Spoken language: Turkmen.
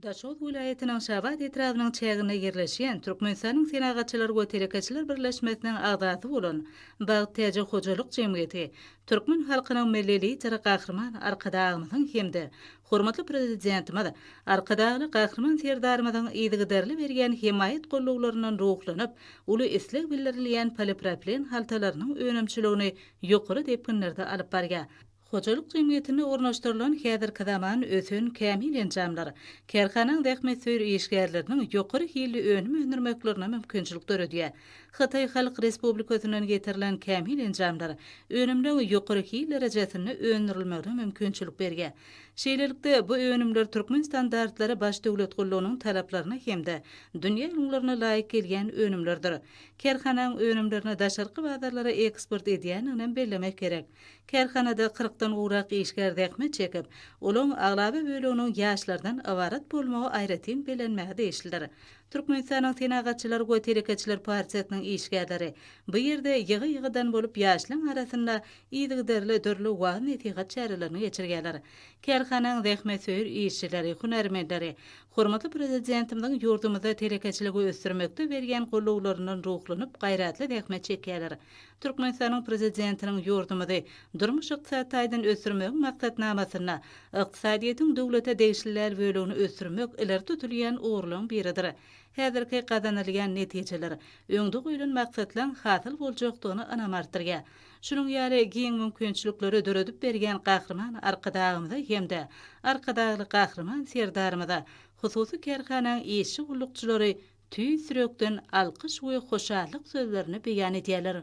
Daşoguz welaýatynyň Şabat etrabynyň çäginde ýerleşýän Türkmenistanyň Senagatçylar we telekeçiler birleşmesiniň agzasy bolan Bagt Täji hojalyk jemgyýeti türkmen halkynyň Milli Lideri Gahryman Arkadagymyzyň hem-de hormatly Prezidentimiz Arkadagly Gahryman Serdarymyzyň yzygiderli berýän hemaýat gollawlaryndan ruhlanyp, uly isleg bildirilýän polipropilen haltalarynyň önümçiligini ýokary depginlerde alyp barýar. Hojalyk jemgyýetinde ornaşdyrylan häzirki zaman ösen kämil enjamlar kärhananyň zähmetsöýer işgärleriniň ýokary hilli önüm öndürmeklerine mümkinçilik döredýär. Hytaý Halk Respublikasyndan getirilen kämil enjamlar önümleň ýokary hil derejesinde öndürilmegine mümkinçilik berýär. Şeýlelikde, bu önümler türkmen standartlary Baş döwlet gullugynyň talaplaryna hem-de dünýä ülňülerine laýyk gelýän önümlerdir. Kärhananyň önümlerini daşarky bazarlara eksport edýändiginem bellemek gerek. Kärhanada kyrkdan gowrak işgär zähmet çekip, olaň aglaba böleginiň ýaşlardan ybarat bolmagy aýratyn bellenmäge degişlidir. Türkmenistanyň Senagatçylar we telekeçiler partiýasynyň işgärleri bu ýerde ýygy-ýygydan bolup ýaşlaň arasynda yzygiderli dürli wagyz-nesihat çärelerini geçirýärler. Kärhanaň zähmetsöýer işçileri, hünärmenleri hormatly Prezidentimiziň ýurdumyzda telekeçiligi ösdürmekde berýän goldawlaryndan ruhlanyp gaýratly zähmet çekýärler. Türkmenistanyň Prezidentiniň ýurdumyzy durmuş-ykdysady taýdan ösdürmegiň maksatnamasynda ykdysadyýetiň döwlete degişli däl bölegini ösdürmek ileri tutulýan ugurlaryň biridir. Häzirki gazanylýan netijeler, öňde goýlan maksatlaryň hasyl boljakdygyna ynam artdyrýar. Şunuň ýaly giň mümkinçilikleri döredip berýän Gahryman Arkadagymyza hem-de Arkadagly Gahryman Serdarymyza hususy kärhanaň işçi-gullukçylary tüýs ýürekden alkyş we hoşallyk sözlerini beýan edýärler.